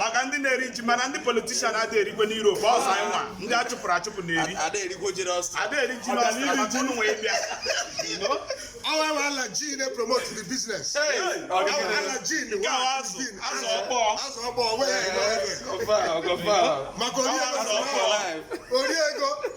maka ndị na-eri ji mana ndị politician adịghị erikwe na Europe ọzọ anyị nwa ndị a chụpụrụ achụpụ na-eri ada eri ji n'ọsọ wee bịa our our Alhaji na promote the business our Alhaji na wa azụ azụ ọkpọ azụ ọkpọ maka ori ego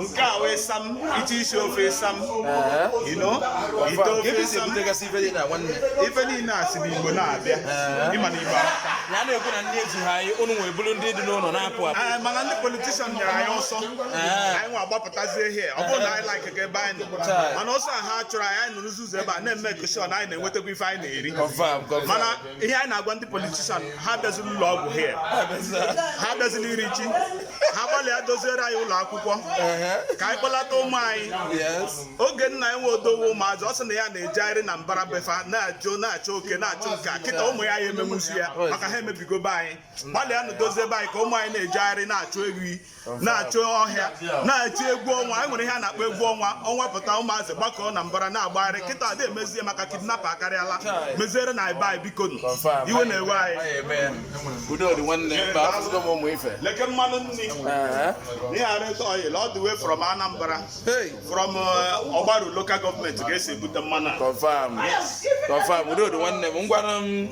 nke a wee sam iche isi ofe sam you know ite ofe sam ife niile a si n'igbo na-abịa ịma na igbo amaka ya na-ekwu na ndị eji ha anyị ụnụ nwere bụrụ ndị dị n'ụlọ na-apụ apụ eh, mana ndị politician nyere anyị ọsọ anyị nwa agbapụtazie ihe ọ bụrọ na anyị like ka ebe anyị nọ mana ọsọ ha chụrụ anyị anyị nọrọzi ụzọ ebe a na-eme occasion anyị na-enwetakwa ife anyị na-eri mana ihe anyị na-agwa ndị politician ha abịazila ụlọ ọgwụ here ha abịazila iri ji ha gbalịa doziere anyị ụlọ akwụkwọ ka anyị kpọlata ụmụ anyị oge nna enwe odowe ụmụazị ọ sị na ya na-ejegharị na mbara be fa na-achụ na-achụ oke na-achụ nke a kịta ụmụ ya ya emenwuzi ya maka ha emebigo be anyị gbalịanụ dozie be anyị ka ụmụ anyị na-ejegharị na-achụ ewi na-achụ ọhịa na-achụ egwu ọnwa anyị nwere ihe a na-akpọ egwu ọnwa ọnwa pụta ụmụazị gbakọọ na mbara na-agbagharị kịta adị emezie maka kidnap akarịala meziere anyị be anyị biko iwe na-ewe anyị leke mmanụ nri ihe a red oil all the way from Anambra from uh, Ogbaru local government ka e si ebute mmanụ a